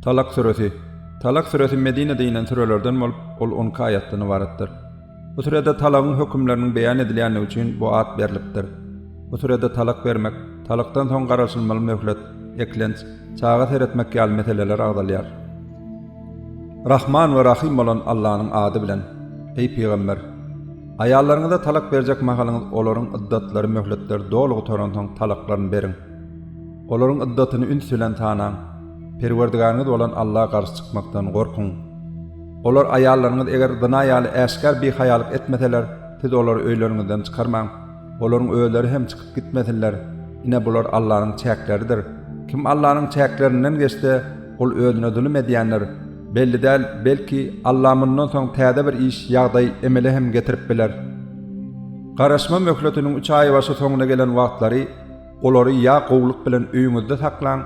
Talak süresi. Talak süresi Medinede inen sürelerden bolup, ol on iki aýatdan ybaratdyr. Bu sürede talagyň hökümleriniň beýan edilýändigi üçin bu at berlipdir. Bu sürede talak bermek, talakdan soň garaşylmaly möhlet, eklenç, çaga seretmek ýaly meseleler agzalýar. Rahman we Rahym bolan Allanyň ady bilen, eý pygamber! Aýallaryňyza talak berjek mahalyňyz olaryň yddatlary möhletleri doly gutaransoň talaklaryny beriň. Olaryň yddatyny üns bilen sanaň. Perwerdigäriňiz bolan Alla garşy çykmakdan gorkuň. Olar aýallaryňyz eger zyna ýaly äşgär bihaýalyk etmeseler, siz olary öýleriňizden çykarmaň. Olaryň özleri hem çykyp gitmesinler. Ine, bular Allanyň çäkleridir. Kim Allanyň çäklerinden geçse, ol özüne zulum edýändir. Belli däl, belki, Alla mundan soň täze bir iş, ýagdaý, emele hem getirip biler. Garaşma möhletiniň üç aýbaşy soňuna gelen wagtlary olary ýa gowulyk bilen öýüňizde saklaň,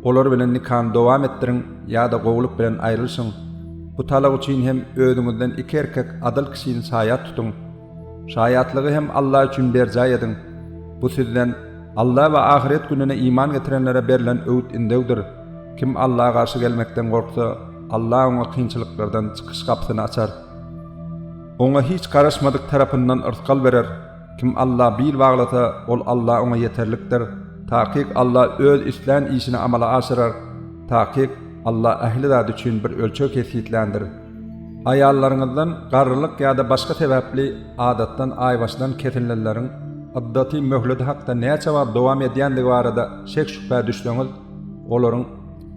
olar bilen nikany dowam etdiriň, ýa-da gowulyk bilen aýrylyşyň. Bu talak üçin hem özüňizden iki erkek adyl kişini şaýat tutuň. Şaýatlygy hem Alla üçin berjaý ediň. Bu sizden, Alla we ahyret gününe iman getirenlere berlen öwüt-ündewdir. Kim Alla garşy gelmekden gorksa, Alla oňa kynçylyklardan çykyş gapysyny açar. Oňa hiç garaşmadyk tarapyndan yrsgal berer. Kim Alla bil baglasa, ol Alla oňa ýeterlikdir. Takyk Alla Öz islän işini amala aşyrar. Takyk, Alla ähli zat üçin bir ölçeg kesgitländir. Aýallaryňyzdan garrylyk ýa-da başga sebäpli adatdan aýbaşlan kesilnleriň yddaty möhleti hakda näçe wagt dowam edýändigi barada şek-şübhä düşseňiz, olaryň,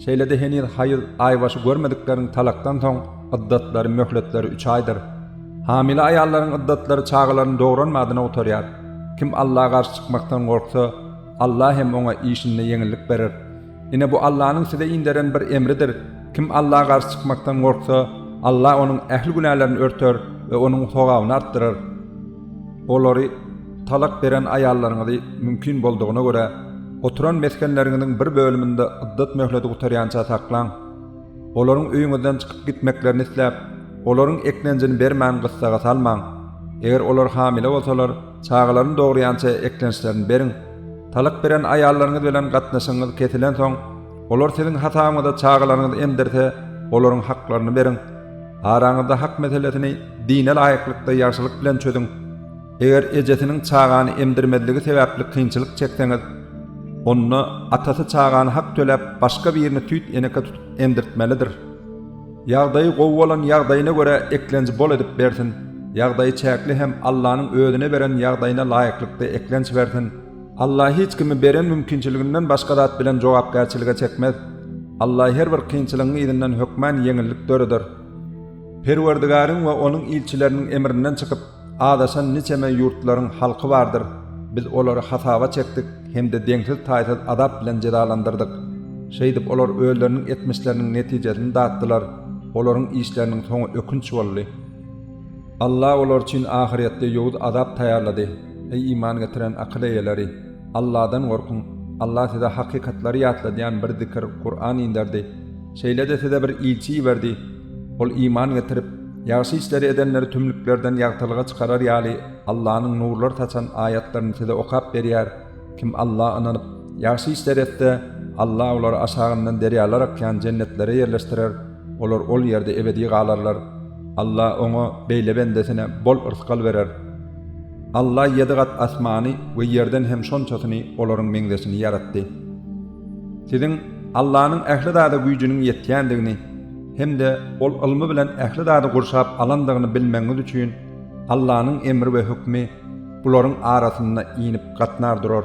şeýle-de heniz haýyz aýbaşy görmedikleriň talakdan soň yddatlary, möhletleri üç aýdyr. Hamile aýallaryň yddatlary çagalaryny dogranmadyna gutarýar. Kim Allaha garşy çykmakdan gorksa, Allah hem oňa işinde ýeňillik berer. Ine, bu Allanyň size inderen bir emridir, kim Alla garşy çykmakdan gorksa, Alla onuň ähli günälerini örter we onuň sogabyny artdyrar. Olary, talak beren aýallaryňyzy, mümkin boldugyna görä, oturan mesgenleriňiziň bir bölüminde yddat möhleti gutarýança saklaň. Olaryň öýüňizden çykyp gitmeklerini isläp, olaryň eklenjini bermän gyssaga salmaň. Eger olar hamile bolsalar, çagalaryny dogurýança eklençlerini beriň. Talak beren aýallaryňyz bilen gatnaşygyňyz kesilensoň, olar siziň hasabyňyza çagalaryňyzy emdirse, olaryň haklaryny beriň. Araňyzda hak meselesini dine laýyklykda ýagşylyk bilen çözüň. Eger ejesiniň çagany emdirmezligi sebäpli kynçylyk çekseňiz, onda atasy çagany hak töläp, başga birini süýt eneke tutup emdirtmelidir. Ýagdaýy gowy bolan ýagdaýyna görä eklenji bol edip bersin, ýagdaýy çäkli hem Allanyň özüne beren ýagdaýyna laýyklykda eklenç bersin. Alla hiç kimi beren mümkinçiliginden başga zat bilen jogapkärçilige çekmez. Alla her bir kynçylygyň yzyndan hökman ýeňillik döreder. Perwerdigaryň we onuň ilçileriniň emrinden çykyp, Azaşan niçeme ýurtlaryň halky bardyr, biz olary hasaba çekdik hem-de deňsiz-taýsyz azap bilen jezalandyrdyk. Şeýdip, olar özleriniň etmişleriniň netijesini datdylar, olaryň işleriniň soňy ökünç boldy. Alla olar üçin ahyrýetde ýowuz azap taýýarlady. Eý, iman getiren akyl eýeleri! Alladan gorkuň! Alla size hakykatlary ýatladýan bir zikr, Kuran, inderdi. Şeýle-de size bir ilçi iberdi. Ol iman getirip, ýagşy işleri edenleri tümlüklerden ýagtylyga çykarar ýaly, Allanyň nurlar saçan aýatlaryny size okap berýär. Kim Alla ynanyp, ýagşy işleri etse, Alla olary aşagyndan derýalar akýan jennetlere ýerleşdirer, olar ol ýerde ebedi galarlar. Alla oňa, beýle bendesine, bol yrsgal berer. Alla ýedi gat asmany we ýerden hem şonçasyny olaryň meňzeşini ýaratdy. Siziň Allanyň ähli zada güýjüniň ýetýändigini, hem-de ol ylmy bilen ähli zady gurşap alandygyny bilmegiňiz üçin, Allanyň emri we hökmi bularyň arasynda inip gatnar durar.